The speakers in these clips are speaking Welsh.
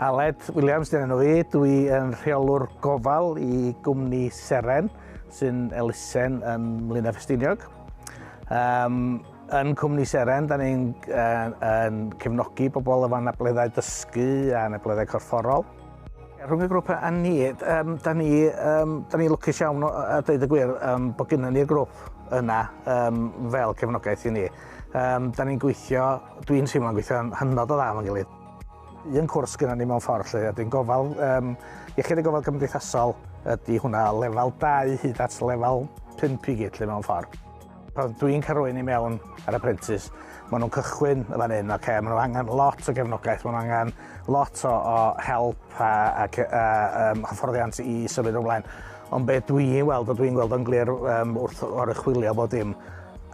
Aled Williams dyn nhw i, dwi yn rheolwr gofal i gwmni Seren sy'n elusen yn Mlyn Efestiniog. Um, yn cwmni Seren, da ni'n uh, yn cefnogi bobl efo anableddau dysgu a anableddau corfforol. Rhwng y grŵp a ni, um, da ni, um, da ni lwcus iawn a dweud y gwir um, bod gyda ni'r grŵp yna um, fel cefnogaeth i ni. Um, da ni'n gweithio, dwi'n teimlo'n gweithio yn hynod o dda efo'n gilydd. Un cwrs gyda ni mewn ffordd lle, a dwi'n gofal, um, iechyd y gofal cymdeithasol ydy hwnna lefel 2 hyd at lefel 5 i gyd lle mewn ffordd. Pan dwi'n cael rwy'n i mewn ar apprentice, maen nhw'n cychwyn y fan hyn, okay, maen nhw angen lot o gefnogaeth, maen nhw angen lot o, o help a, a, a um, hyfforddiant i symud ymlaen. Ond beth dwi'n weld, o dwi'n gweld o'n glir um, wrth oruchwilio bod dim,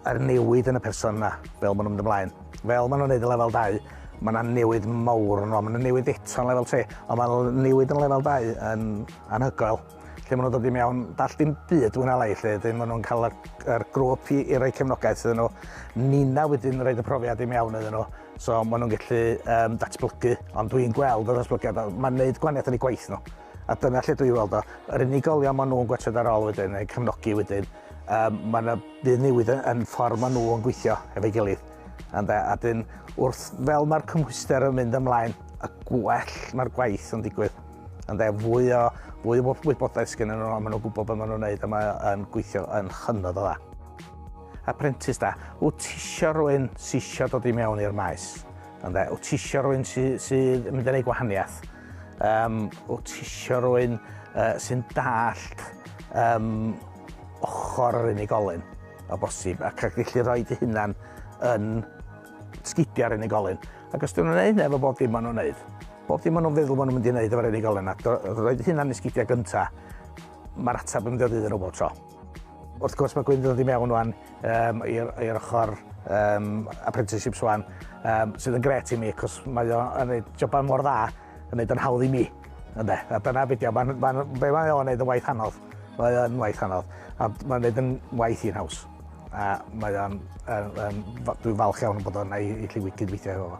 a'r newid yn y person yna, fel maen nhw'n mynd ymlaen. Fel maen nhw'n neud y lefel 2, mae yna newid mawr yno, mae yna newid eto yn lefel 3, ond mae newid yn lefel 2 yn anhygoel. Lle maen nhw'n dod i mewn, dall dim byd wyna lai, lle dyn maen nhw'n cael yr grwp i, i roi cefnogaeth iddyn nhw. Nina wedyn yn rhaid y profiad i mewn iddyn nhw, so maen nhw'n gallu um, datblygu, ond dwi'n gweld y datblygiad, mae'n gwneud gwaniaeth yn ei gwaith nhw. A dyna lle dwi'n weld o. Yr unigolion maen nhw'n gwerthudd ar ôl wedyn, neu cefnogi wedyn, Um, mae yna byd newid yn ffordd maen nhw yn gweithio efo'i gilydd. Ande, a dyn, wrth fel mae'r cymhwyster yn mynd ymlaen, y gwell mae'r gwaith yn digwydd. Ande, fwy o, fwy o wybodaeth sgyn nhw, maen nhw'n gwybod beth maen nhw'n gwneud a mae'n gweithio yn chynnod o dda. Apprentice da, wyt ti eisiau rhywun sy'n eisiau dod i mewn i'r maes? Ande, wyt ti eisiau rhywun sydd sy mynd yn ei gwahaniaeth? Um, wyt ti eisiau rwy'n uh, sy'n dallt um, ochr yr unigolyn o bosib ac ac felly roi dy hunan yn sgidio ar unigolyn. Ac os dyn nhw'n gwneud efo bob dim maen nhw'n gwneud, bob dim maen nhw'n feddwl maen nhw'n mynd i wneud efo'r unigolyn a roi dy hunan i sgidio gyntaf, mae'r ateb yn dod iddyn nhw bob tro. Wrth gwrs mae Gwynedd yn dod i mewn wan um, i'r ochr um, apprenticeships wan, um, sydd yn gret i mi, cos mae o'n gwneud jobau mor dda, yn gwneud yn hawdd i mi. Ynde, a dyna beth yw, mae'n ma, ma, be mae o'n gwneud yn waith anodd. Mae o'n waith anodd, a mae'n gwneud yn waith i'n haws. A mae o'n, dwi'n falch iawn bod o'n ei, ei lliwyd cydweithio efo fo.